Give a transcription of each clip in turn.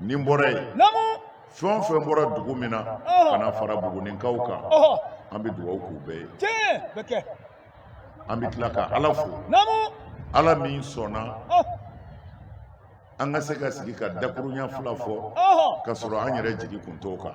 ni n bɔra yen fɛn o fɛn bɔra dugu min na ka na fara buguninkaw kan an bɛ dugawu k'u bɛɛ ye an bɛ tila ka ala fo ala min sɔnna an ka se ka sigi ka dakurunya fila fɔ ka sɔrɔ an yɛrɛ jigi kun t'o kan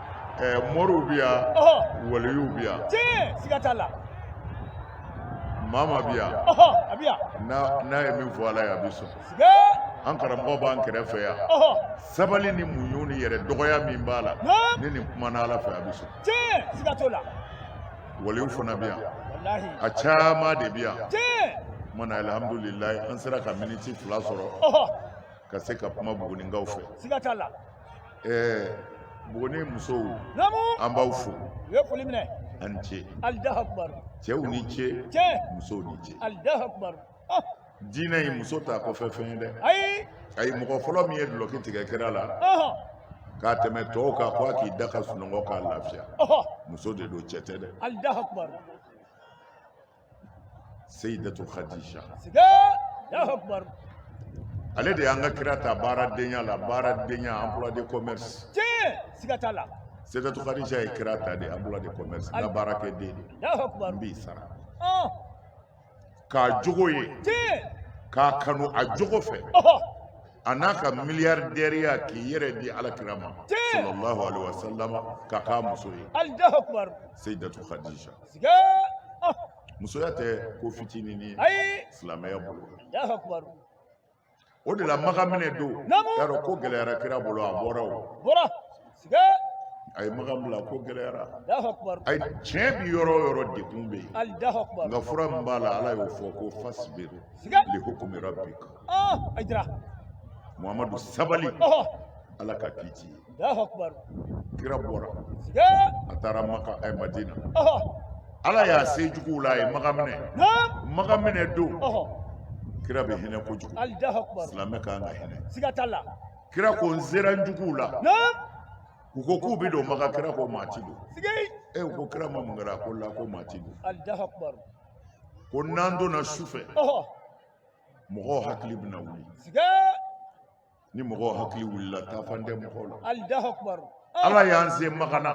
moriw bɛ yan waliyiw bɛ yan siga t'a la maa maa bɛ yan a bɛ yan n'a ye min fɔ ala ye a bɛ sɔn an karamɔgɔ b'an kɛrɛfɛ yan sabali ni muɲu ni yɛrɛ dɔgɔya min b'a la ni nin kumana ala fɛ a bɛ sɔn siga t'o la waliyiw fana bɛ yan a caman de bɛ yan kumana alihamudulilayi an sera ka miniti fila sɔrɔ ka se ka kuma buguninkaw fɛ siga t'a la ɛɛ buguni musow an b'aw fo u ye foli minɛ a ni ce cɛw ni ce musow ni ce ah. diinɛ in muso t'a kɔfɛ fɛn ye dɛ ayi mɔgɔ fɔlɔ min ye dulɔki tigɛ kira la ka tɛmɛ tɔw kan ko a k'i da ka sunɔgɔ k'a lafiya muso de don cɛ tɛ dɛ seydatu khadija ale de y'an ka kira ta baaradenya la baaradenya emploi de commerce siga t'a la seydatu khadija ye kira ta de emploi de commerce n ka baarakɛden de n b'i sara k'a jogo ye k'a kanu a jogo fɛ a n'a ka miliyardɛriya k'i yɛrɛ di alakira ma sallallahu alaihi wasallam ka k'a muso ye seydatu khadija musoya tɛ ko fitinin ye silamɛya bolo o de la maga minɛ don y'a dɔn ko gɛlɛyara kira bolo a bɔra o a ye maga bila ko gɛlɛyara ayi tiɲɛ bi yɔrɔ o yɔrɔ dekun bɛ yen nka fura min b'a la ala y'o fɔ ko fasibiri lihukumi rabbika muhamadu sabali ala ka kiiti kira bɔra a taara maka ɛ madina ala y'a se juguw la a ye maga minɛ maga minɛ don kira bɛ hinɛ kojugu silamɛ ka kan ka hinɛ siga t'a la kira ko n sera n juguw la u ko k'u bɛ don maga kira ko maa ti don u ko kira ma mun kɛra ko la ko maa ti don ko n'an donna su fɛ mɔgɔw hakili bɛna wuli ni mɔgɔw hakili wulila taafan tɛ mɔgɔw la alahu akubar ala y'an se maga na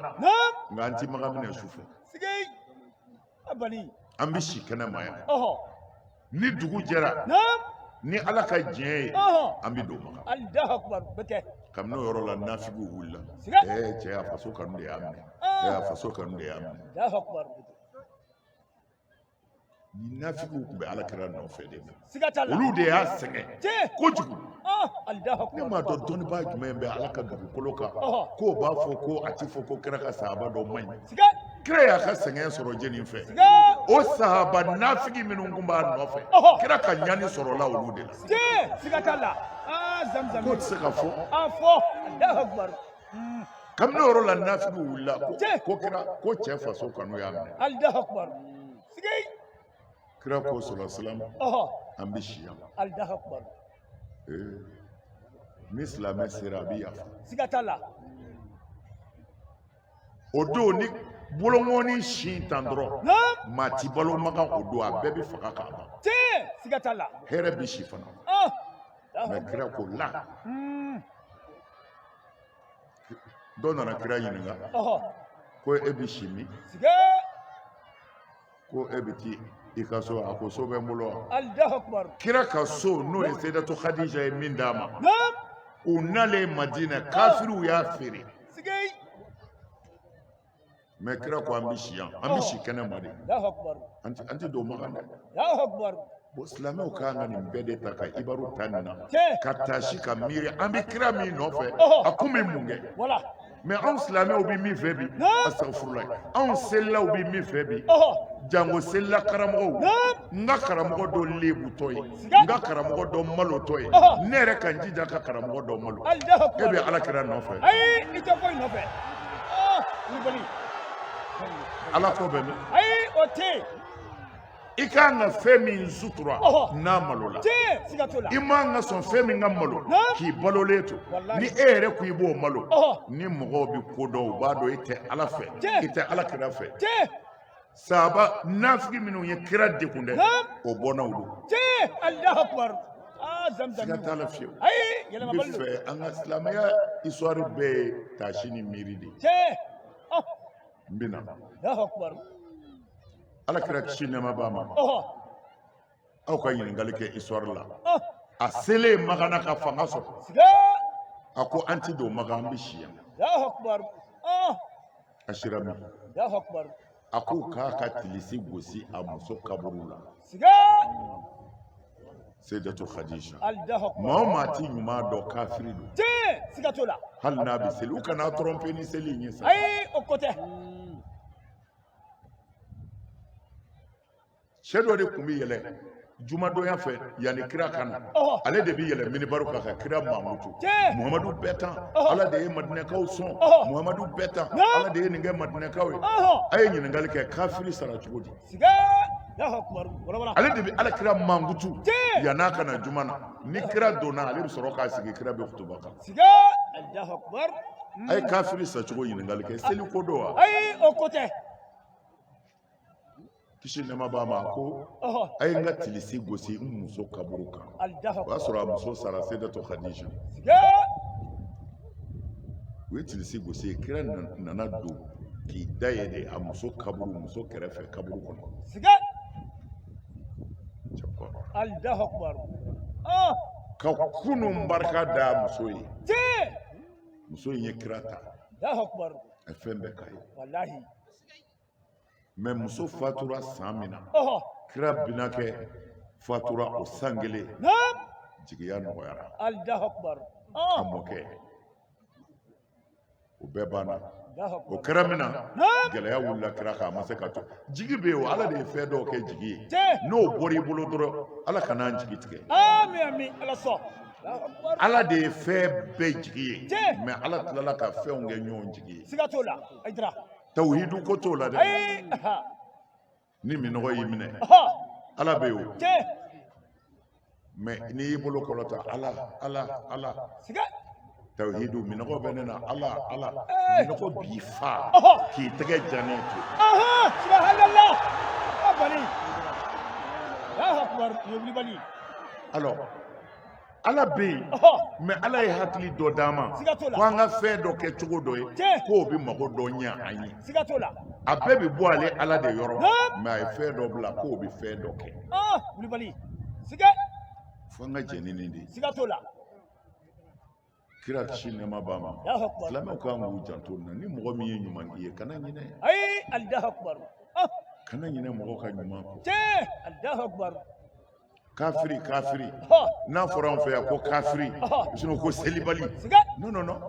nka an ti maga minɛ su fɛ an bɛ si kɛnɛ ma yan ni dugu jɛra ni ala ka diɲɛ ye an bɛ don maga alahu akubar bɛ kɛ kabini o yɔrɔ la nafigiw wulila ɛɛ cɛ a faso kanu de y'a minɛ ɛɛ faso kanu de y'a minɛ nafigiw tun bɛ ala kira nɔfɛ de olu de y'a sɛgɛn kojugu ne m'a dɔn dɔnnibaa jumɛn bɛ ala ka dugukolo kan k'o b'a fɔ ko a ti fɔ ko kira ka sahaba dɔ man ɲi kira y'a ka sɛgɛn sɔrɔ jɛni fɛ o sahaba nafigi minnu kun b'a nɔfɛ kira ka ɲani sɔrɔla olu de la k'o tɛ se ka fɔ kabini o yɔrɔ la nafigiw wulila ko kira ko cɛ faso kanu y'a minɛ kira ko sɔrɔ silamɛ an bɛ si yan ni silamɛ sera a bɛ yafa siga t'a la o don ni bolongɔni sin tan dɔrɔn maa ti balo makan o don a bɛɛ bɛ faga k'a ban siga t'a la hɛrɛ bɛ si fana mɛ kira ko la hmm. dɔ nana kira ɲininka ko e bɛ si min ko e bɛ t'i ka so a ko so bɛ n bolo wa kira ka so n'o ye seyidatu kadija ye min d'a ma u nalen madina kafiriw y'a feere mɛ kira ko an bɛ si yan an bɛ si kɛnɛ ma de an tɛ don makan dɛ bon silamɛw ka kan ka nin bɛɛ de ta ka ibaru ta nin na ka taasi ka miiri an bɛ kira min nɔfɛ a kun bɛ mun kɛ mɛ anw silamɛw bɛ min fɛ bi asafurula anw selilaw bɛ min fɛ bi jango selila karamɔgɔw n ka karamɔgɔ dɔ lebutɔ ye n ka karamɔgɔ dɔ malotɔ ye ne yɛrɛ ka n jija ka karamɔgɔ dɔ malo e bɛ ala kira nɔfɛ ayi i tɛ foyi nɔfɛ kulubali ala ko bɛ min ayi o tɛ yen i ka kan ka fɛn min sutura n'a malola i man ka sɔn fɛn min ka malo k'i balolen to ni e yɛrɛ ko i b'o malo ni mɔgɔw bɛ ko dɔn u b'a dɔn e tɛ ala fɛ i tɛ ala kira fɛ sahaba nafigi minnu ye kira degun dɛ o bɔnnaw don tiɲɛ alahu akubaru aa zamzam siga t'a la fiyewu ayi yɛlɛmabali don fɛ an ka silamɛya histoire bɛɛ ye taasi ni miiri de ye tiɲɛ ɔh n bɛ na alahu akubaru ala kira kisi nɛɛma b'a ma ɔhɔ aw ka ɲininkali kɛ histoire la oh. a selen makan na ka fanga sɔrɔ a ko an ti don makan an bɛ si yan oh. a sira min a ko k'a ka tilisi gosi a muso kaburu la seydatu khadija maa o maa ti ɲuman dɔn kafiri don siga t'o la hali n'a bɛ seli u kana tromper ni seli in ye sa ayi o ko tɛ cɛ dɔ de tun bɛ yɛlɛ jumadonya fɛ yanni kira ka na ale de bɛ yɛlɛ minibaru kan ka kira mankutu muhamadu bɛɛ tan ala de ye madinɛkaw sɔn muhamadu bɛɛ tan ala de ye nin kɛ madinɛkaw ye a ye ɲininkali kɛ kafiri sara cogo di ale de bɛ ala kira mankutu yann'a ka na juma na ni kira donna ale bɛ sɔrɔ k'a sigi kira bɛ kutuba kan a ye kafiri sacogo ɲininkali kɛ seli ko don wa ayi o ko tɛ kisi nɛma b'a ma ko a ye n ka tilisi gosi n muso kaburu kan o y'a sɔrɔ a muso sara sayidatu kadija u ye tilisi gosi kira nana don k'i da yen de a muso kaburu muso kɛrɛfɛ kaburu kɔnɔ ka kunun barika da a muso ye muso in ye kira ta a ye fɛn bɛɛ k'a ye mɛ muso fatura san min na kira binakɛ fatura o san kelen jigiya nɔgɔyara a mɔkɛ o bɛɛ banna o kɛra min na gɛlɛya wulila kira kan a ma se ka to jigi bɛ yen o ala de ye fɛn dɔw kɛ jigi ye n'o bɔra i bolo dɔrɔn ala kana an jigi tigɛ ala de ye fɛn bɛɛ jigi ye mɛ ala tilala ka fɛnw kɛ ɲɔgɔn jigi ye tawuhidu ko t'o la dɛ ni minɔgɔ y'i minɛ ala bɛ yen o mɛ n'i y'i bolo kɔrɔta ala ala ala tawuhidu minɔgɔ bɛ ne na ala ala minɔgɔ b'i fa k'i tɛgɛ jannen to. Alors, ala bɛ yen mɛ ala ye hakili dɔ d'an ma ko an ka fɛn dɔ kɛ cogo dɔ ye k'o bɛ mago dɔ ɲɛ an ye a bɛɛ bɛ bɔ ale ala de yɔrɔ mɛ a ye fɛn dɔ bila k'o bɛ fɛn dɔ kɛ fo an ka jɛn ni nin de ye kira kisi nɛma b'a ma silamɛw kan k'u janto nin na ni mɔgɔ min ye ɲuman k'i ye kana ɲinɛ kana ɲinɛ mɔgɔ ka ɲuman kɔ kafiri kafiri n'a fɔra an fɛ yan ko kafiri sinɔn ko selibali non non non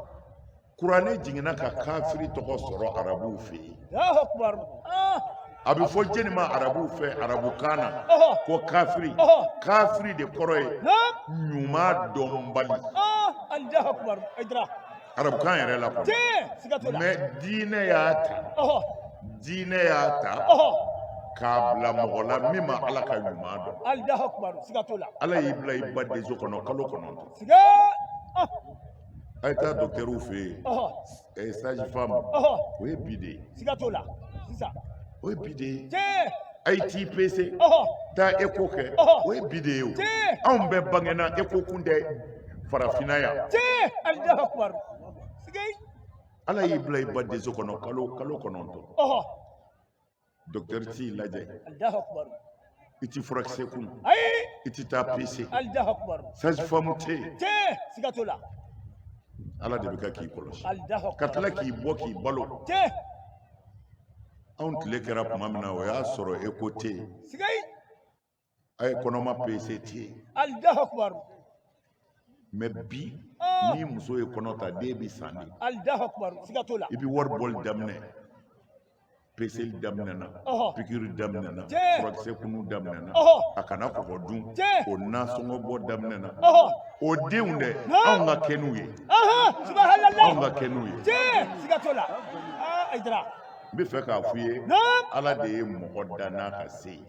kuranɛ jiginna ka kafiri tɔgɔ sɔrɔ arabuw fɛ yen a bɛ fɔ jɛni ma arabuw fɛ arabukan na ko kafiri kafiri de kɔrɔ ye ɲuman dɔnbali arabukan yɛrɛ la kɔni mɛ diinɛ y'a ta diinɛ y'a ta k'a bila mɔgɔ la min ma ala ka ɲuman dɔn ala y'i bila i ba denso kɔnɔ kalo kɔnɔntɔn a ye taa dɔkitɛriw fɛ yen sage-femme o ye bi de ye o ye bi de ye a ye t'i pese taa eko kɛ o ye bi de ye o anw bɛɛ bangena eko kun tɛ farafinna yan ala y'i bila i ba denso kɔnɔ kalo kalo kɔnɔntɔn dɔkitɛri t'i lajɛ i ti furakisɛ kun i ti taa pese sazi famu tɛ yen ala de bɛ ka k'i kɔlɔsi ka tila k'i bɔ k'i balo anw tile kɛra tuma min na o y'a sɔrɔ eko tɛ yen a ye kɔnɔma pese tɛ yen mɛ bi ah. ni muso ye kɔnɔ ta den bɛ san de i bɛ wari bɔli daminɛ peseli daminɛna pikiri daminɛna furakisɛ kunu daminɛna a kana kɔgɔ dun o nasɔngɔ bɔ daminɛna o denw dɛ anw ka kɛ n'u ye anw ka kɛ n'u ye n bɛ fɛ k'a f'i ye ala de ye mɔgɔ dan n'a ka se ye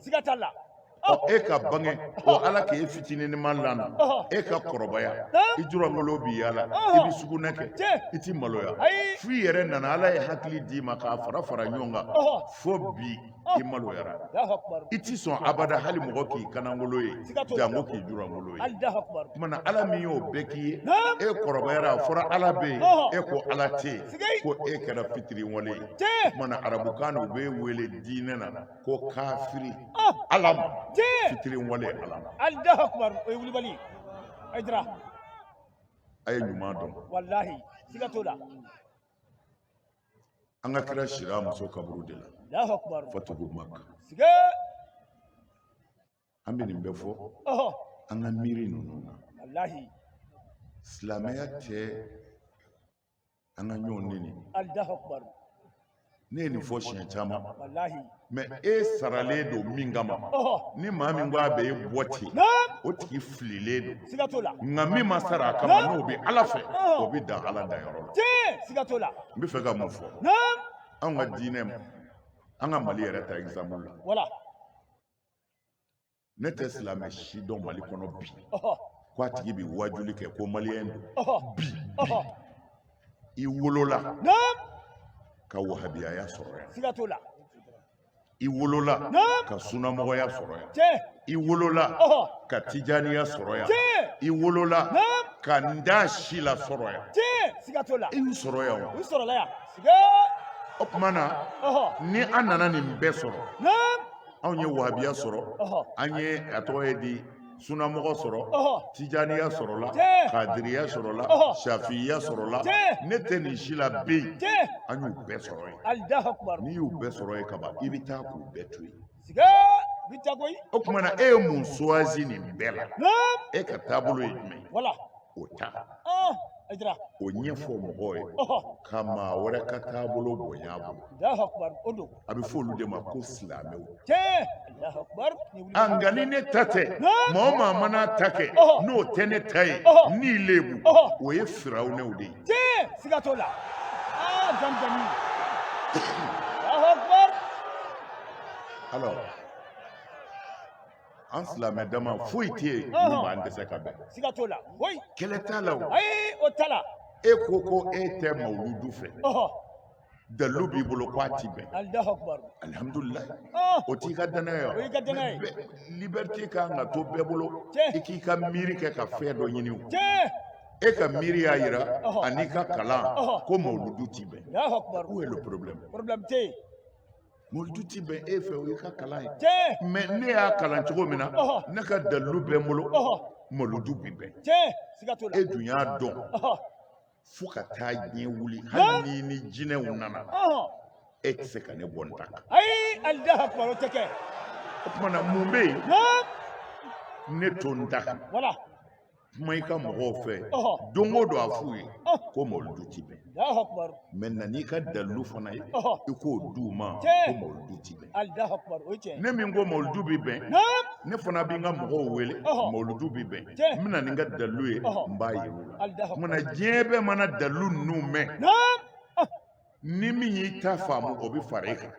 e ka bange o ala k'e fitininima lana e ka kɔrɔbaya i jurangolo b'i yaala i bɛ sugunɛ kɛ i ti maloya f'i yɛrɛ nana ala ye hakili d'i ma k'a fara fara ɲɔgɔn kan fo bi i maloyara i ti sɔn abada hali mɔgɔ k'i kanangolo ye janko k'i jurangolo ye kumana ala min y'o bɛɛ k'i ye e kɔrɔbayara a fɔra ala bɛ yen e ko ala tɛ yen ko e kɛra fitiriwale ye kumana arabukan u bɛ wele diinɛ na ko kafiri ah! ala ma fitiriwale ala ma Alahu akibaru o ye wulibali ayidara a ye ɲuman dɔn walahi siga t'o la an ka kira sira muso kaburu de la fatuhu maka an bɛ nin bɛɛ fɔ an ka miiri ninnu na silamɛya tɛ an ka ɲɔgɔn nɛni Alahu akibaru ne ye nin fɔ siɲɛ caman walahi mɛ e saralen don min kama ɔhɔ ni maa min ko a bɛ e bɔ ten naam o tigi fililen don siga t'o la nka min ma sara a kama n'o bɛ ala fɛ o bɛ dan ala danyɔrɔ la tiɲɛ siga t'o la n bɛ fɛ ka mun fɔ naam anw ka diinɛ ma an ka mali yɛrɛ ta exemple la wala ne tɛ silamɛ si dɔn mali kɔnɔ bi ko a tigi bɛ waajuli kɛ ko maliyɛn don bi i wolola ka wahabiyaya sɔrɔ yan siga t'o la i wolola ka sunamɔgɔya sɔrɔ yan i wolola ka tijaniya sɔrɔ yan i wolola ka n da si la sɔrɔ yan siga t'o la i y'u sɔrɔ yan o u sɔrɔla yan o tuma na ni an nana nin bɛɛ sɔrɔ anw ye wahabiya sɔrɔ an ye a tɔgɔ ye di sunamɔgɔ sɔrɔ tijaniya sɔrɔla kadiriya sɔrɔla safiya sɔrɔla ne tɛ nin si la bɛ yen an y'u bɛɛ sɔrɔ yen n'i y'u bɛɛ sɔrɔ yen kaban i bɛ taa k'u bɛɛ to yen o tuma na e ye mun suwazi nin bɛɛ la e ka taabolo ye jumɛn ye o ta o ɲɛfɔ mɔgɔw ye ka maa wɛrɛ ka taabolo bonya a bolo a bɛ fɔ olu de ma ko silamɛw a nka ni ne ta tɛ maa o maa mana ta kɛ n'o tɛ ne ta ye n'i lebu o ye firawunɛw de ye siga t'o la alors an silamɛ dama foyi tɛ yen min b'an dɛsɛ ka bɛn siga t'o la kɛlɛ t'a la o ayi o t'a la e ko ko e tɛ mawuludu fɛ dalilu b'i bolo k'a ti bɛn alihamdulilayi ah! o t'i ka danaya ye wa liberite kan ka to bɛɛ bolo i k'i ka miiri kɛ ka fɛn dɔ ɲini o e ka miiri y'a yira ani i ka kalan ko mawuludu ti bɛn où est le problème mawuludu ti bɛn e fɛ o y'i ka kalan ye mɛ ne y'a kalan cogo min na ne ka dalilu bɛ n bolo mawuludu bi bɛn e dun y'a dɔn fo ka taa diɲɛ wuli hali ni ni jinɛw nana e tɛ se ka ne bɔ n ta kan ayi alahu akubaru o tɛ kɛ o tuma na mun bɛ yen ne to n ta kan kuma i ka mɔgɔw fɛ don o don a f'u ye ko mawuludu ti bɛn mɛ na n'i ka dalilu fana ye i k'o d'u ma ko mawuludu ti bɛn ne min ko mawuludu bi bɛn ne fana bɛ n ka mɔgɔw wele mawuludu bi bɛn n bɛna ni n ka dalilu ye n b'a yir'u la diɲɛ bɛɛ mana dalilu ninnu mɛn ni min y'i ta faamu o bɛ fara e kan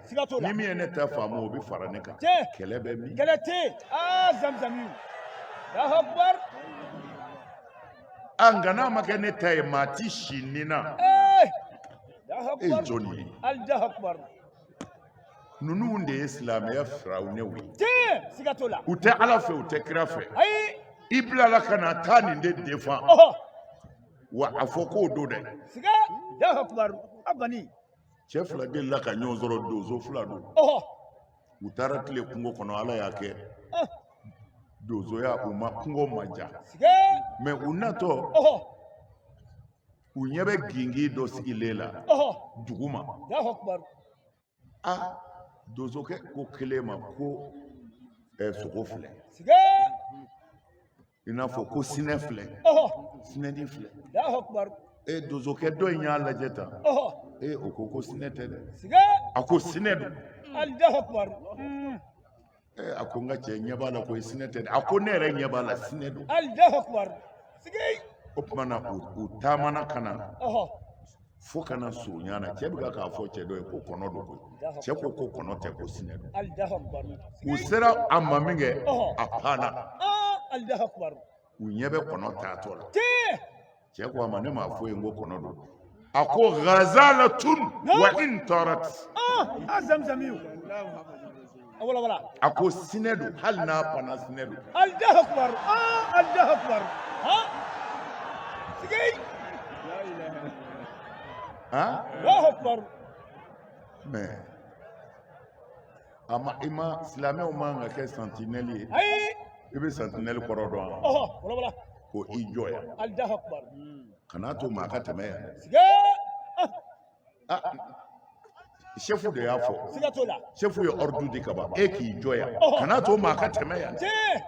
ni min ye ne ta faamu o bɛ fara ne kan kɛlɛ bɛ min kɛlɛ tɛ yen aa zamzami alahu akubaru a nka n'a ma kɛ ne ta ye maa ti si nin na e ye jɔn ye ninnu de ye silamɛya firawunɛw ye tiɲɛ siga t'o la u tɛ ala fɛ u tɛ kira fɛ ayi i bilala ka na taa nin de defan ɔhɔ wa a fɔ k'o don dɛ siga alahu akubaru a bani cɛ fila delila ka ɲɔgɔn sɔrɔ donso fila don ɔhɔ u taara tile kungo kɔnɔ ala y'a kɛ ɔh, donsoya u ma kungo ma ja siga mɛ u natɔ ɔhɔ u ɲɛ bɛ gingin dɔ sigilen la dugu ma a donsokɛ ko kelen ma ko eh, sogo filɛ i n'a fɔ ko sinɛ filɛ sinɛni filɛ e eh, donsokɛ dɔ in y'a lajɛ tan e eh, o ko ko sinɛ tɛ dɛ a ko sinɛ don eh, a ko n ka cɛ ɲɛ b'a la koyi sinɛ tɛ dɛ a ko ne yɛrɛ ɲɛ b'a la sinɛ don o tuma na u taamana ka na fo ka na surunya na cɛ bɛ ka k'a fɔ cɛ dɔ ye ko kɔnɔ don koyi cɛ ko ko kɔnɔ tɛ ko sinɛ don u sera a ma min kɛ a panna ah, u ɲɛ bɛ kɔnɔ taatɔ la cɛ ko a ma ne m'a fɔ i ye n ko kɔnɔ don a ko ghazalatun wa in tarat a ko sinɛ don hali n'a panna sinɛ don mais A ma i ma silamɛw man ka kɛ sentinelle ye ayi i bɛ sentinelle kɔrɔ dɔn wa ɔhɔ kɔrɔbɔla ko i jɔ yan Allahu akbar kan'a to maa ka tɛmɛ yan siga ah sɛfu de y'a fɔ siga t'o la sɛfu ye ordre di ka ban e k'i jɔ yan Ɔhɔ. kan'a to maa ka tɛmɛ yan tiɲɛ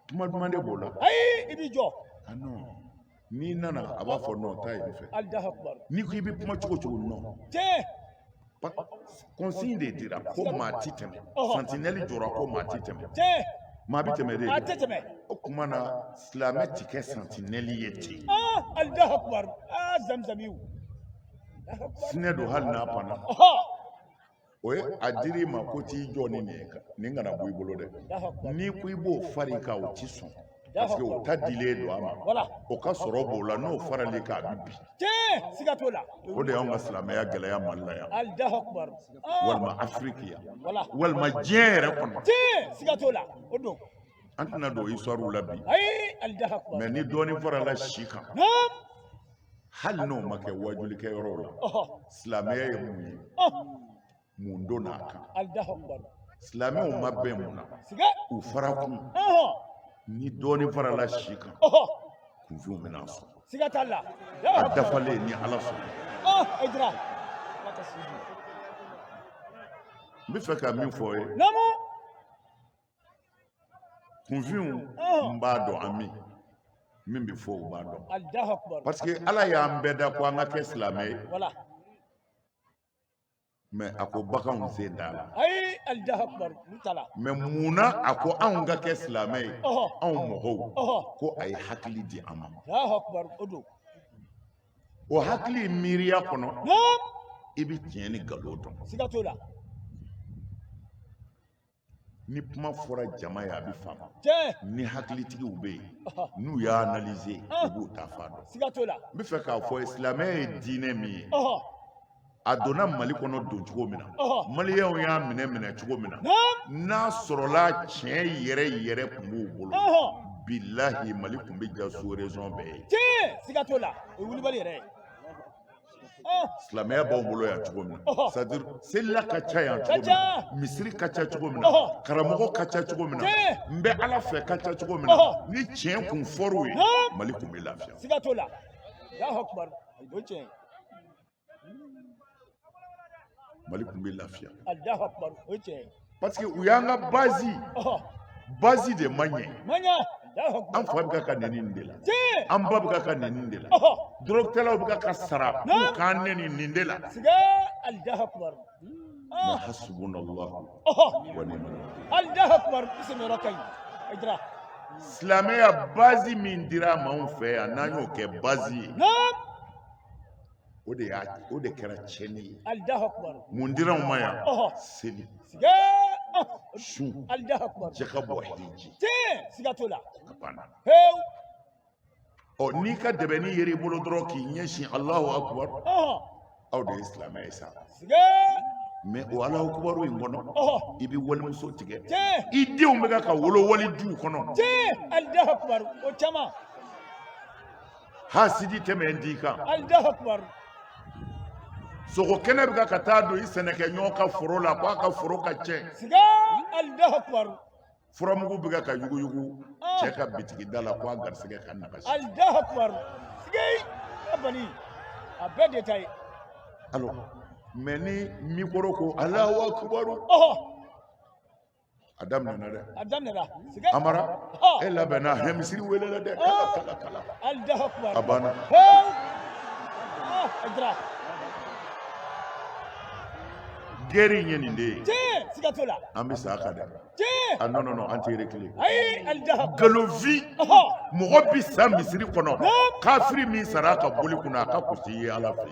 kuma duman de b'o la ayi i b'i jɔ ah non n'i nana a b'a fɔ non taa yen fɛ n'i ko i bɛ kuma cogo cogo non consigne de dira ko maa ti tɛmɛ sentinelle jɔra ko maa ti tɛmɛ maa bɛ tɛmɛ de a tɛ tɛmɛ o tuma na silamɛ ti kɛ sentinelle ye ten sinɛ don hali n'a panna o ye a dir'i ma ko t'i jɔ ni nin ye nin kana bɔ i bolo dɛ n'i ko i b'o far'i kan o ti sɔn parce que o ta dilen don a ma o ka sɔrɔ b'o la n'o faral'i kan a bi bin o de y'anw ka silamɛya gɛlɛya mali la yan walima afiriki yan walima diɲɛ yɛrɛ kɔnɔ an tɛna don histoire la bi mais ni dɔɔnin farala si kan hali n'o ma kɛ waajulikɛyɔrɔ la silamɛya ye mun ye mun donn'a kan silamɛw ma bɛn mun na u fara kun ni dɔɔnin farala si kan kunfinw bɛna sɔn siga t'a la a dafalen ni ala sɔnna n bɛ fɛ ka min fɔ ye kunfinw n b'a dɔn an min min bɛ fɔ u b'a dɔn parce que ala y'an bɛɛ da ko an ka kɛ silamɛ ye mais a ko baganw sen t'a la mais mun na a ko anw ka kɛ silamɛ ye anw mɔgɔw ko a ye hakili di an ma o hakili miiriya kɔnɔ i bɛ tiɲɛ ni nkalon dɔn ni kuma fɔra jama ye a bɛ faamu ni hakilitigiw bɛ yen n'u y'a analize u b'u ta fan dɔn siga t'o la n bɛ fɛ k'a fɔ silamɛya ye diinɛ min ye a donna mali kɔnɔ don cogo min na maliyɛnw y'a minɛ minɛ cogo min na n'a sɔrɔla tiɲɛ yɛrɛ yɛrɛ kun b'u bolo bilahi mali kun bɛ diya sous-région bɛɛ ye siga t'o la o ye wulibali yɛrɛ ye silamɛya b'anw bolo yan cogo min na c'est-à-dire selila ka ca yan cogo min na misiri ka ca cogo min na karamɔgɔ ka ca cogo min na n bɛ ala fɛ ka ca cogo min na ni tiɲɛ kun fɔr'u ye mali kun bɛ lafiya siga t'o la mali kun bɛ lafiya parce que u y'an ka bazi bazi de man ɲɛ an fa bɛ ka ka nɛni nin de la an ba bɛ ka ka nɛni nin de la dɔrɔgutalaw bɛ ka ka sara k'u k'an nɛni nin de la mais hasbunallahu wa ni'mal wakil allahu akbar bisimila kayi ajira silamɛya bazi min dira ma anw fɛ yan n'an y'o kɛ bazi ye o de y'a o de kɛra tiɲɛni ye alahu akubaru mun dira anw ma yan ɔhɔ seli sigee ɔhɔ sun alahu akubaru jaka bɔ hiji tiɲɛ siga t'o la a banna hewu ɔ n'i ka dɛbɛnnin yer'i bolo dɔrɔn k'i ɲɛsin alahu akubaru ɔhɔ aw de ye silamɛ ye sa sigee mais o alahu akubaru in kɔnɔ ɔhɔ i bɛ walimuso tigɛ tiɲɛ i denw bɛ ka ka wolo wali duw kɔnɔ tiɲɛ alahu akubaru o caman hasidi tɛmɛnen t'i kan sogo kɛnɛ bɛ ka taa don i sɛnɛkɛɲɔgɔn ka foro la k'a ka foro ka cɛn furamugu bɛ ka yuguyugu ah. cɛ ka bitigi da la k'a garisɛgɛ ka nagasi a bɛɛ de ta ye alors mais ni mikoro ko alahu akubaru a daminɛna dɛ a daminɛna amara e labɛnna hɛ misiri welela dɛ a banna gɛri in ye nin de ye an bɛ sa a kan dɛ ah non non an tɛ rekile nkalonfin mɔgɔ bi sa misiri kɔnɔ kafiri min sara a ka boli kunna a ka kus'i ye ala fɛ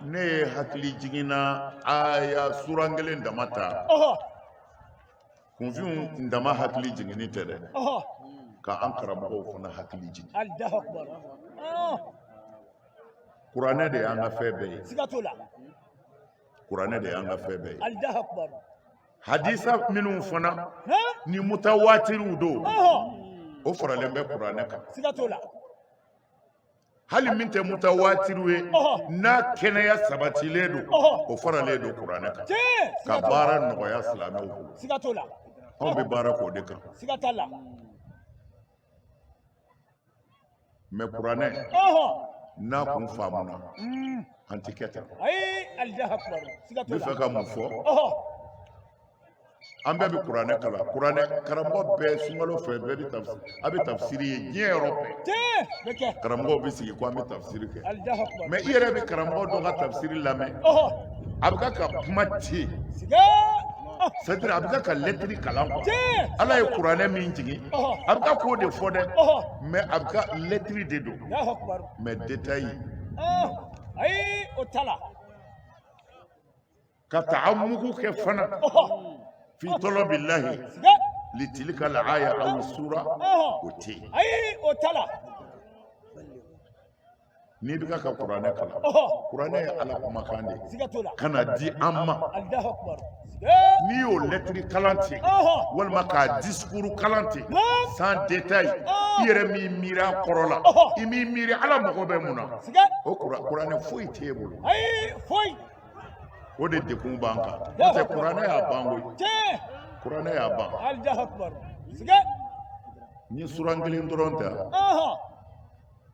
ne ye hakili jiginna aya suran kelen dama ta kunfinw dama hakili jiginni tɛ dɛ ka an karamɔgɔw fana hakili jigin kuranɛ de y'an ka fɛn bɛɛ ye kuranɛ de y'an ka fɛn bɛɛ ye hadisa minnu fana ni mutawatiriw don o faralen bɛ kuranɛ kan hali min tɛ mutawatiri ye n'a kɛnɛya sabatilen don o faralen don kuranɛ kan ka baara nɔgɔya silamɛw bolo anw bɛ baara k'o de kan mɛ kuranɛ n'a kun faamuna an tɛ kɛ tan n bɛ fɛ ka mun fɔ an bɛɛ bɛ kuranɛ kalan kuranɛ karamɔgɔ bɛɛ sunkalo fɛ bɛɛ bɛ tafsiri a bɛ tafsiri ye diɲɛ yɔrɔ bɛɛ karamɔgɔw bɛ sigi ko an bɛ tafsiri kɛ mɛ i yɛrɛ bɛ karamɔgɔ dɔ ka tafsiri lamɛn a bɛ ka ka kuma ten c'est à dire a bɛ ka k'a lɛtiri kalan quoi ala ye kuranɛ min jigin a bɛ ka k'o de fɔ dɛ mɛ a bɛ ka lɛtiri de don mɛ détail ayi o t'a la ka ta'amuku kɛ fana fi talabillahi litilka al-aya aw sura o tɛ yen ayi o t'a la n'i bɛ ka kuranɛ kalan kuranɛ ye ala kumakan de ye ka na di an ma n'i y'o lɛtiri kalan ten walima k'a discours kalan ten sans détail i yɛrɛ m'i miiri a kɔrɔ la i m'i miiri ala mago bɛ mun na o kuranɛ foyi t'e bolo o de degun b'an kan n'o tɛ kuranɛ y'a ban koyi kuranɛ y'a ban n ye suran kelen dɔrɔn ta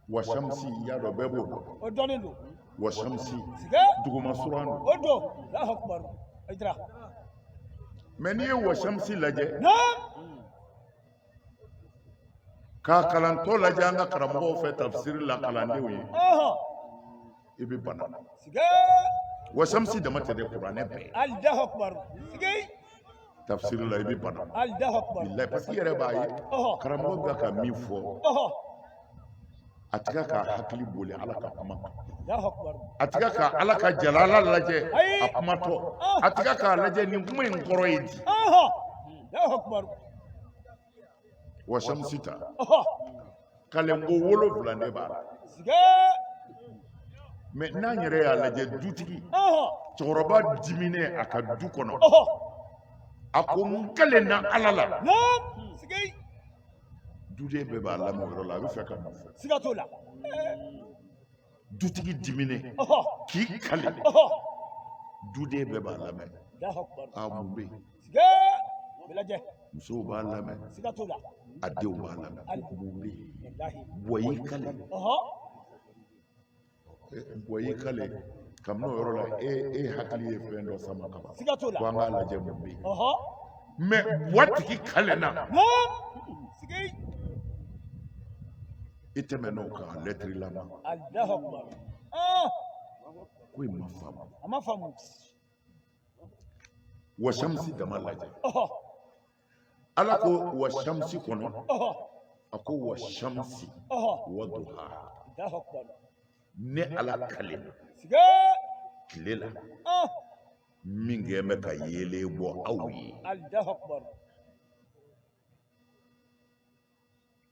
wa shamsi i y'a dɔn bɛɛ b'o dɔn o dɔnnen don wa shamsi duguma suran don o don alahu akubar i dira mɛ n'i ye wa shamsi lajɛ k'a kalantɔ lajɛ an ka karamɔgɔw fɛ tafsiri la kalandenw ye i bɛ bana wa shamsi dama tɛ dɛ kuranɛ bɛɛ alahu akubaru tafsiri la i bɛ bana alahu akubaru bilayi parce que i yɛrɛ b'a ye karamɔgɔ bɛ ka min fɔ a tɛ ka k'a hakili boli ala ka kuma kan a tɛ ka ka ala ka jalala lajɛ a kumatɔ a tɛ ka k'a lajɛ nin kuma in kɔrɔ ye di wa shamsi ta kalenko wolonwula de b'a la mɛ n'an yɛrɛ y'a lajɛ dutigi cɛkɔrɔba diminen a ka du kɔnɔ a ko n kalenna ala la duden bɛɛ b'a lamɛn o yɔrɔ la a bɛ fɛ ka mun fɔ siga t'o la dutigi diminen k'i kali duden bɛɛ b'a lamɛn a mun bɛ yen musow b'a lamɛn a denw b'a lamɛn mun bɛ yen bɔ y'i kali bɔ y'i kali kabini o yɔrɔ la e e hakili ye fɛn dɔ sama ka ban ko an k'a lajɛ mun bɛ yen mɛ bɔ tigi kalenna. i tɛmɛn'o kan lɛtiri lama ko in ma faamu a ma faamu wa shamsi dama lajɛ ala ko wa shamsi kɔnɔ a ko wa shamsi wa duha ne ala kalen tile la min kɛnɛ bɛ ka yeelen bɔ aw ye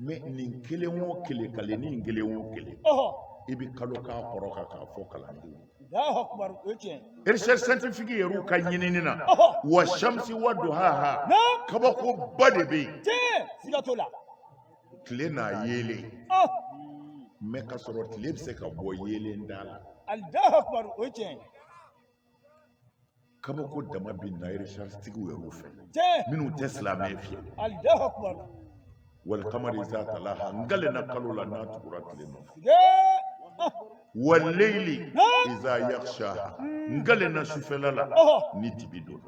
mɛ nin kelen o kelen kalen nin kelen o kelen i bɛ kalo k'a kɔrɔ kan k'a fɔ kalandenw recherche scientifique yɛrɛw ka ɲinini na wa shamsi wa duhaha kabakoba de bɛ yen tile n'a yeelen mɛ ka sɔrɔ tile bɛ se ka bɔ yeelen t'a la kabako dama bɛ na recherche tigiw yɛrɛw fɛ minnu tɛ silamɛ fiyewu wal kamari iza talaha n kalenna kalo la n'a tugura tile nɔfɛ waleyili iza yakshaha n kalenna sufɛla la ni dibi don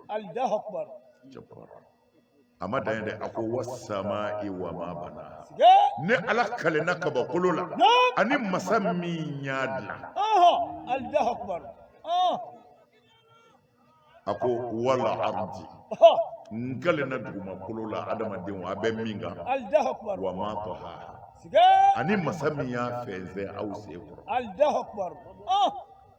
a ma dan ye dɛ a ko wasamai wa ma banaha ne ala kalenna kabakolo la ani masa min y'a dilan a ko wal ardi n kalenna dugumakolo la adamadenw aw bɛ min kan wa ma tahaha ani masa min y'a fɛnsɛn aw sen kɔrɔ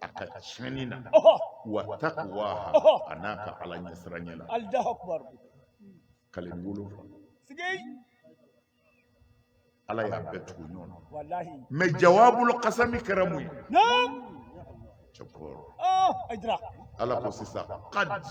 a ka cɛnni na wa takwaha an'a ka ala ɲɛsiranɲɛ la kalen wolonfila ala y'a bɛɛ tugu ɲɔgɔn na mɛ jawabul kasami kɛra mun ye cɛkɔrɔ ala ko sisan kadi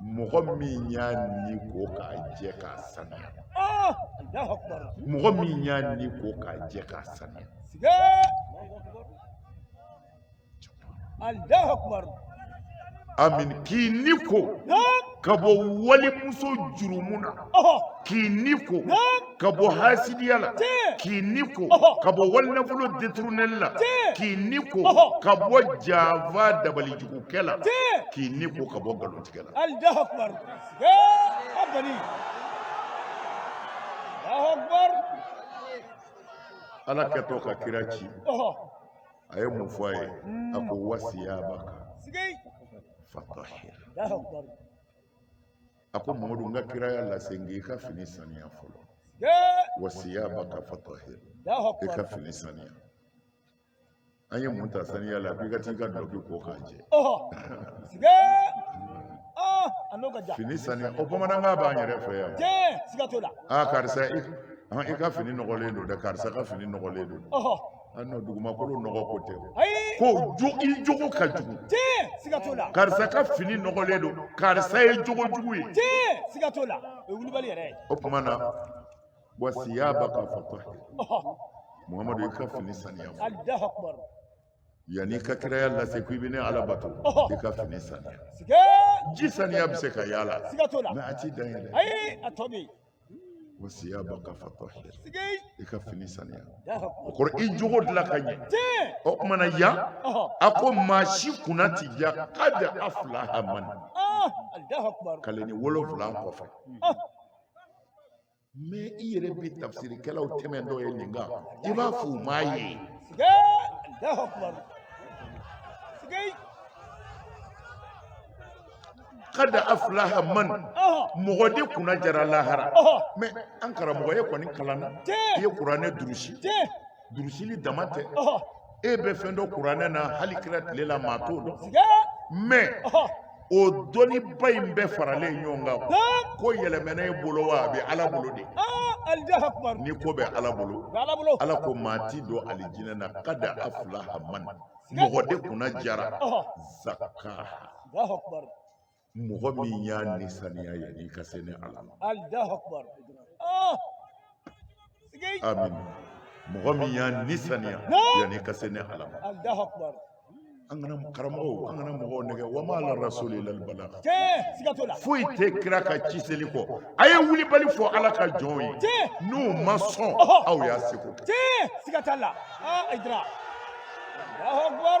mɔgɔ min y'a ni ko k'a jɛ k'a sanuya ah! mɔgɔ min y'a ni ko k'a jɛ k'a sanuya amin k'i ni ko ka bɔ walimuso jurumu na k'i ni ko ka bɔ hasidiya la k'i ni ko ka bɔ walinafolo deturunnɛli la k'i ni ko ka bɔ janfa dabalijugukɛ la k'i ni ko ka bɔ nkalontigɛ la ala kɛtɔ ka kira ci a ye mun fɔ a ye a ko wasiyabaka fatahir a ko mamadu n ka kiraya lase nk'i ka fini saniya fɔlɔ wasiyabaka fatahir i ka fini saniya an ye mun ta saniya la k'i ka t'i ka dɔlɔki ko k'a jɛ fini saniya o bamanankan b'an yɛrɛ fɛ yan aa karisa i ka fini nɔgɔlen don dɛ karisa ka fini nɔgɔlen don a n'o dugumakolo nɔgɔ ko tɛ ko jo i jogo ka jugu karisa ka fini nɔgɔlen don karisa ye jogo jugu ye o tuma na wasiyabaka fatahir muhamadu i ka fini saniya yanni i ka kiraya lase ko i bɛ ne ala bato i ka fini saniya ji saniya bɛ se ka y'a la mɛ a ti dan yen dɛ wasiyabaka fatahir i ka fini saniya o kɔrɔ i jogo dilan ka ɲɛ o tuma na yan a ko maa si kunna ti ja kada aflaha man kaleni wolonfila kɔfɛ mɛ i yɛrɛ bɛ tafsirikɛlaw tɛmɛntɔ ye nin kan i b'a fɔ u m'a ye kada aflaha man mɔgɔ de kunna jara lahara mɛ an karamɔgɔ e kɔni kalanna i ye kuranɛ durusi durusili dama tɛ e bɛ fɛn dɔn kuranɛ na hali kira tile la maa t'o dɔn mɛ o dɔnniba in bɛɛ faralen ɲɔgɔn kan ko yɛlɛmɛna e bolo wa a bɛ ala bolo de ni ko bɛ ala bolo ala ko maa ti don alijinɛ na kada aflaha man mɔgɔ de kunna jara zakaha Allahu akbar mɔgɔ min y'a ni saniya yanni ka se ni ala ma Allahu akbar ah sigei amin mɔgɔ min y'a ni saniya yanni ka se ni ala ma Allahu akbar an kana karamɔgɔw an kana mɔgɔw nɛgɛn wa ma ala rasuli ilal balagh tiɲɛ siga t'o la foyi tɛ kira ka ciseli kɔ a ye wulibali fɔ ala ka jɔnw ye tiɲɛ n'u ma sɔn Ɔhɔ. aw y'a seko kɛ tiɲɛ siga t'a la ah Haïdara Allahu akbar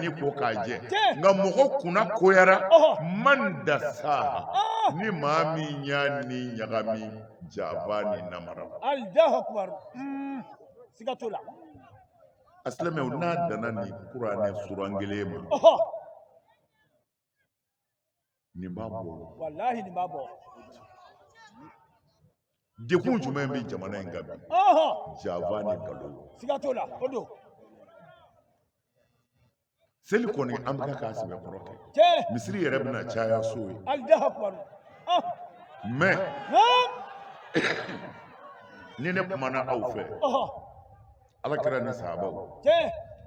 ni ko k'a jɛ nka mɔgɔ kunna koyara man dasaha ni maa min y'a ni ɲagami janfa ni namara mm, siga t'o la asilamɛw n'a danna nin kuranɛ suran kelen ma nin b'a bɔ walahi nin b'a bɔ degun jumɛn bɛ jamana in kan bi janfa ni nkalon siga t'o la o don seli kɔni an bɛ k'a sɛbɛkɔrɔ kɛ misiri yɛrɛ bɛna caya so ye mɛ ni ne kumana aw fɛ ala kira ni sahabaw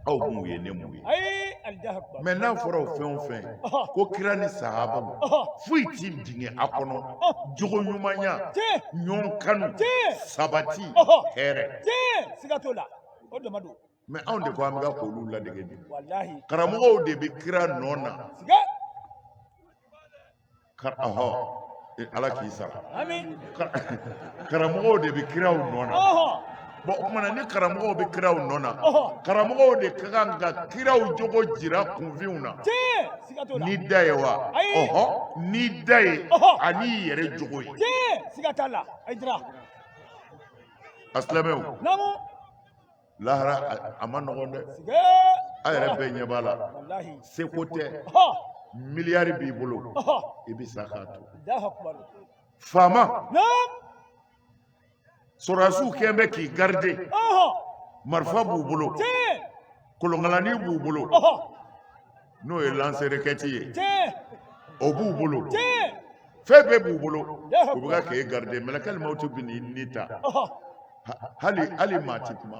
aw m'u ye ne m'u ye mɛ n'a fɔra o fɛn o fɛn ko kira ni sahabaw foyi t'i dingɛ a kɔnɔ jogo ɲumanya ɲɔgɔn kanu sabati hɛrɛ siga t'o la o dama don mɛ anw de ko an bɛ ka k'olu ladege bi karamɔgɔw de bɛ kira nɔ na ala k'i sara karamɔgɔw de bɛ kiraw nɔ na bɔn o kumana ni karamɔgɔw bɛ kiraw nɔ na karamɔgɔw de ka kan ka kiraw jogo jira kunfinw na n'i da ye wa ɔhɔ n'i da ye an'i yɛrɛ jogo ye a silamɛw lahara a ma nɔgɔn dɛ a yɛrɛ bɛɛ ɲɛ b'a la seko tɛ miliyari b'i bolo i bɛ sa k'a to faama sɔrɔdasiw kɛn bɛ k'i garide marifa b'u bolo kolonkalani b'u bolo n'o ye lanserekɛti ye o b'u bolo fɛn bɛɛ b'u bolo u bɛ ka k'e garide mɛlɛkɛli mawuti b'i ni ta hali hali maa ti kuma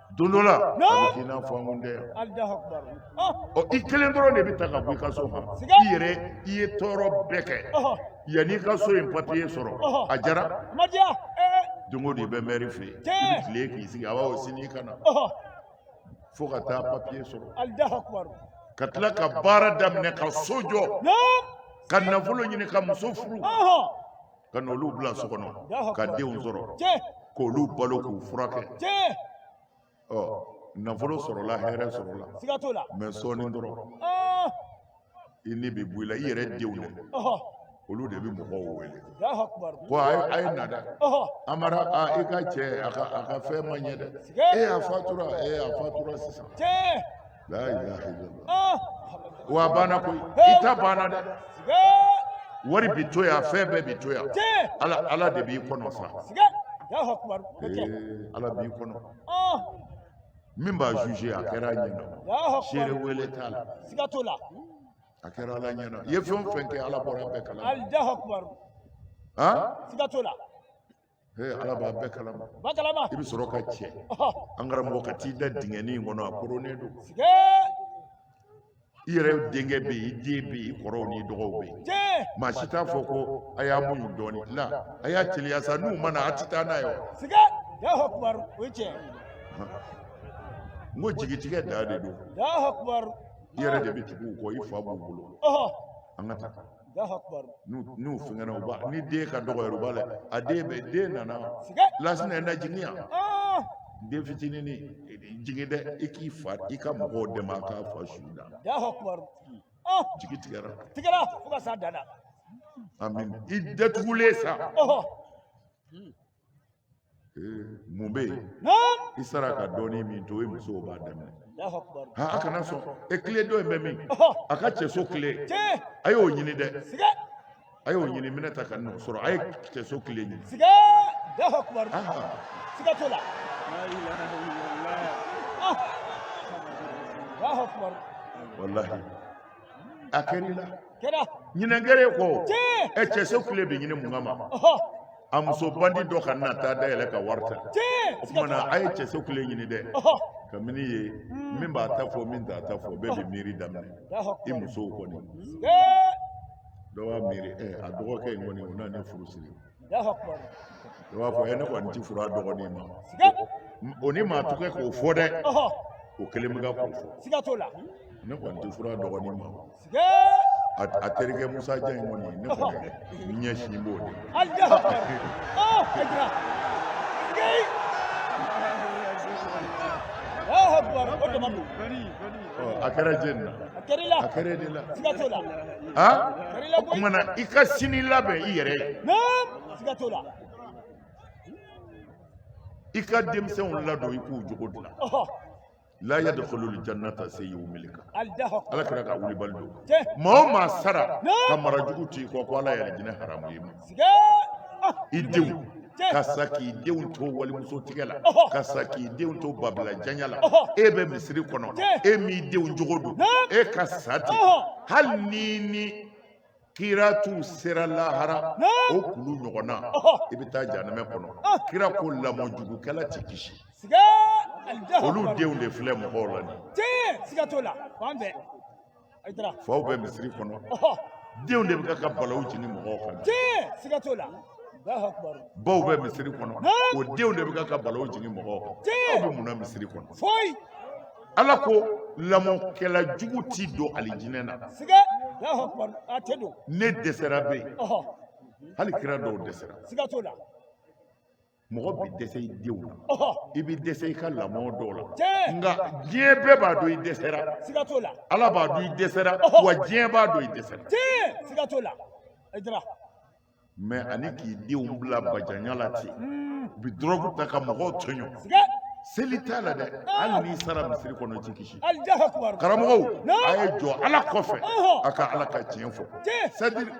don dɔ la a bɛ k'i n'a fɔ an kun tɛ yan ɔ i kelen dɔrɔn de bɛ ta ka bɔ i ka so han i yɛrɛ i ye tɔɔrɔ bɛɛ kɛ yanni i ka so in papiye sɔrɔ a jara don o don i bɛ mɛri fɛ yen i bɛ tile k'i sigi a b'a fɔ sini i ka na fo ka taa papiye sɔrɔ ka tila ka baara daminɛ ka so jɔ ka nafolo ɲini ka muso furu. ka n'olu bila so kɔnɔ ka denw sɔrɔ k'olu balo k'u furakɛ ɔ nafolo sɔrɔla hɛrɛ sɔrɔla mɛ sɔɔni dɔrɔn ah! i ni bɛ bɔ i la i yɛrɛ denw dɛ olu de bɛ mɔgɔw wele ko a ye na dɛ amara a i ka cɛ a ka a ka fɛn ma ɲɛ dɛ e a fatura e a fatura sisan la ilaha illallah oh! wa a banna koyi i ta banna dɛ wari bi to yan fɛn bɛɛ bi to yan ala ala de b'i kɔnɔ sa eh, ala b'i kɔnɔ oh! min b'a juge a kɛra a ɲɛ na seere wele t'a la a kɛra ala ɲɛ na i ye fɛn o fɛn kɛ ala bɔra a bɛɛ kalama han siga t'o la ala b'a bɛɛ kalama i bɛ sɔrɔ ka cɛ an karamɔgɔ ka t'i da dingɛnin in kɔnɔ a koronnen don i yɛrɛ denkɛ bɛ yen i den bɛ yen i kɔrɔw n'i dɔgɔw bɛ yen maa si t'a fɔ ko a y'a muɲu dɔɔnin la a y'a teliya sa n'u ma na a tɛ taa n'a ye wa n ko jigitigɛ da de don i yɛrɛ de bɛ tugu u kɔ i fa b'u bolo an ka taa n'u fɛngɛna u b'a ni den ka dɔgɔ yɛrɛ u b'a la a den bɛ den nana lasina ye na jigin yan ah! den fitinin jigin dɛ i k'i fa i ka mɔgɔw dɛmɛ a k'a fa su da ah! jigi tigɛra tigɛra fo ka s'a dan na ami i datugulen sa Eh, mun bɛ yen i sara ka dɔɔnin min to i musow b'a daminɛ ha a kana sɔn e kile dɔ in bɛ min a ka kɛsu kile a y'o ɲini dɛ a y'o ɲini minɛta kan'o sɔrɔ a ye kɛsu kile ɲini walahi a kɛra i la ɲinɛnkɛre ko ɛ kɛsu kile bɛ ɲini mun kama a muso bandi dɔ kana taa dayɛlɛ ka wari ta o kumana a ye kɛsu kile ɲini dɛ kabini yen hmm. min b'a ta fɔ min t'a ta fɔ bɛɛ bɛ miiri daminɛ i musow kɔni dɔ b'a miiri ɛ a dɔgɔkɛ in kɔni o na ne furu siri dɔ b'a fɔ ne kɔni ti furu a dɔgɔnin ma o ni maa tɔgɔ k'o fɔ dɛ o kelen bɛ ka k'o fɔ ne kɔni ti furu a dɔgɔnin ma a terikɛ musa jan in kɔni ne kɔni n ɲɛsin b'o de la a kɛra jeni na a kɛra i la a kɛra de la siga t'o la ha o kuma na i ka sini labɛn i yɛrɛ ye siga t'o la i ka denmisɛnw ladon i k'u jogo dilan la yadkhulul jannata sayyi'u milka ala kira ka wulibali don maa o maa sara ka mara jugu to i kɔ ko ala y'arijinɛ haramuya ah! i denw ka sa k'i denw to walimuso tigɛ la ka sa k'i denw to babila janya la e bɛ misiri kɔnɔ e m'i denw jogo dɔn e ka sa ten hali n'i ni kira tun sera lahara o kulu ɲɔgɔnna i bɛ taa janamɛ kɔnɔ kira ko lamɔjugukɛla ti kisi olu denw de filɛ mɔgɔw la nin. tiɲɛ siga t'o la fan bɛɛ. faw bɛ misiri kɔnɔ denw de bɛ ka balaw jigin mɔgɔw kan baw bɛ misiri kɔnɔ o denw de bɛ ka balaw jigin mɔgɔw kan aw bɛ mun na misiri kɔnɔ ala ko lamɔkɛla jugu ti don alijinɛ na ne dɛsɛra bɛ yen hali kira dɔw dɛsɛra mɔgɔ bɛ dɛsɛ i denw na i bɛ dɛsɛ i ka lamɔ dɔw la nka diɲɛ bɛɛ b'a dɔn i dɛsɛra ala b'a dɔn i dɛsɛra wa diɲɛ b'a dɔn i dɛsɛra mɛ ani k'i denw bila bajanya la ten hmm. u bɛ dɔrɔgu ta ka mɔgɔw tɔɲɔ seli t'a la dɛ hali n'i sara misiri kɔnɔ i ti kisi karamɔgɔw a ye jɔ ala kɔfɛ a ka ala ka tiɲɛ fɔ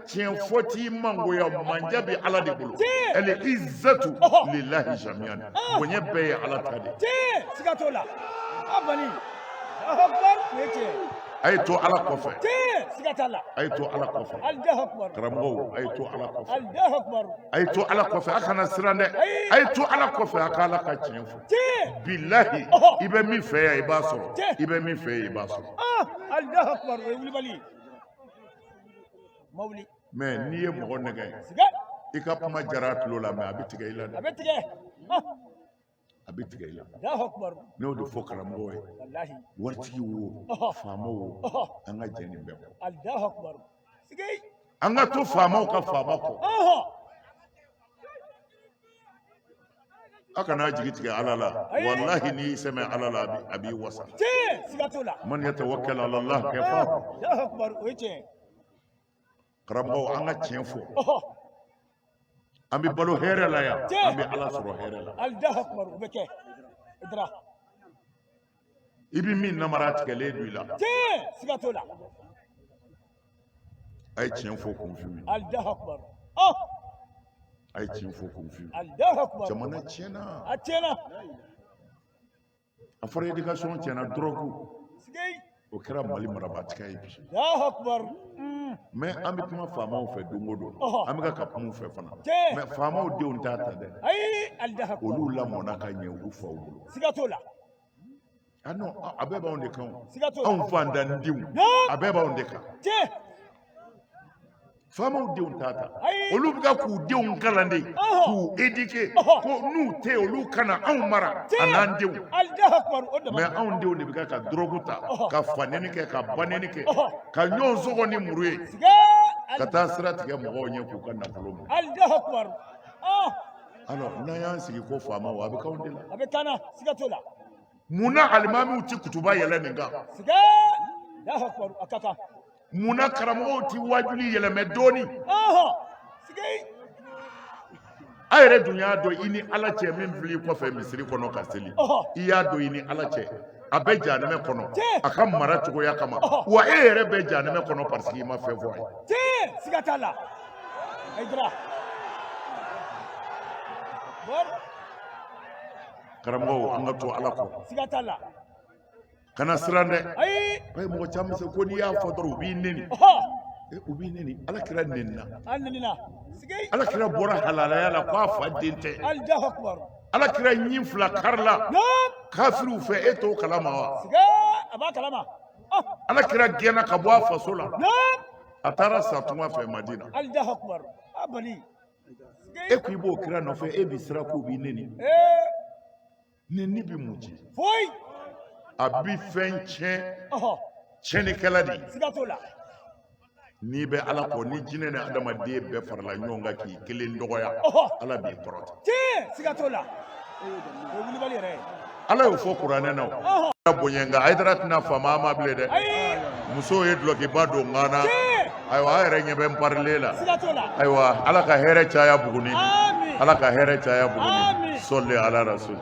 tiɲɛ fɔ t'i mangoya mandiya bɛ ala de bolo al izzatu lillahi jamian ah. bonya bɛɛ ye ala ta de ye siga t'o la a bani a ye to ala kɔfɛ a ye to ala kɔfɛ karamɔgɔw a ye to ala kɔfɛ a ye to ala kɔfɛ a kana siran dɛ a ye to ala kɔfɛ a ka ala ka tiɲɛ fɔ bilahi i bɛ min fɛ yan i b'a sɔrɔ i bɛ min fɛ yan i b'a sɔrɔ ah, mawuli mɛ n'i ye mɔgɔ nɛgɛ i ka kuma diyara a tulo la mɛ a bɛ tigɛ i la dɛ a bɛ tigɛ a bɛ tigɛ i la ne y'o de fɔ karamɔgɔ ye waritigi wo faama wo an ka jɛ nin bɛɛ kɔ an ka to faamaw ka faama kɔ a kana jigi tigɛ ala la walahi n'i y'i sɛmɛ ala la a b'i wasa man yatawakkal ala allah kafa karamɔgɔw an ka tiɲɛ fɔ an bɛ balo hɛrɛ la yan an bɛ ala sɔrɔ hɛrɛ la i bɛ min namara tigɛlen don i la tiɲɛ siga t'o la a ye tiɲɛ fɔ kun fili allahu akbar ɔ a ye tiɲɛ fɔ kun fili allahu akbar jamana tiɲɛna a tiɲɛna a fɔra éducation tiɲɛna dɔrɔgu siga o kɛra mali marabatiga ye bi allahu akbar mɛ an bɛ kuma faamaw fɛ don o don Ɔhɔ. an bɛ ka ka kuma u fɛ fana Tiɲɛ. mɛ faamaw denw t'a ta dɛ ayi allahu akbar olu lamɔna ka ɲɛ u faw bolo siga t'o la ah non a bɛɛ b'anw de kan anw faantan denw a bɛɛ b'anw de kan faamaw denw t'a ta olu bɛ ka k'u denw kalan de k'u éduquer ko n'u tɛ olu ka na anw mara an n'an denw mɛ anw denw de bɛ ka ka dɔrɔgu ta ka fanɛni kɛ ka banɛni kɛ ka ɲɔgɔn sɔgɔ ni muru ye ka taa sira tigɛ mɔgɔw ɲɛ k'u ka nafolo minɛ alors n'an y'an sigi ko faamaw a bɛ k'anw de la a bɛ k'an na siga t'o la mun na alimamiw tɛ kutuba yɛlɛ nin kan siga Allahu akbar a ka kan mun na karamɔgɔw tɛ waajuli yɛlɛmɛ dɔɔni ɔhɔ siga a yɛrɛ dun y'a dɔn i ni ala cɛ min fil'i kɔfɛ misiri kɔnɔ ka seli i y'a dɔn i ni ala cɛ a bɛ jahanamɛ kɔnɔ a ka mara cogoya kama wa e yɛrɛ bɛ jahanamɛ kɔnɔ parce que i ma fɛn fɔ a ye. tiɲɛ siga t'a la. karamɔgɔw an ka to ala kɔ. siga t'a la. kana siran dɛ. ayi. ayi mɔgɔ caman se ko n'i y'a fɔ dɔrɔn u b'i neni. u b'i neni ala kira nenina. an nenina. ala kira bɔra halalaya la k'a fa den tɛ. ala kira ɲin fila karila kafiriw fɛ e t'o kalama wa ala kira gɛnna ka bɔ a faso la a taara sa tuma fɛ madina e ko i b'o kira nɔfɛ e bi siran k'u b'i neni neni bi mun ci a bi fɛn tiɲɛ tiɲɛnikɛla de ye n'i bɛ ala kɔ ni jinɛ ni adamaden bɛɛ farala ɲɔgɔn kan k'i kelen dɔgɔya ala b'i kɔrɔta siga t'o la o ye wulibali yɛrɛ ye ala y'o fɔ kuranɛ na o ka bonya nka hayidara tɛna faama ma bilen dɛ musow ye dulɔkiba don n kan na ayiwa a yɛrɛ ɲɛ bɛ n parilen la ayiwa ala ka hɛrɛ caya buguni ala ka hɛrɛ caya buguni sɔli ala rasuli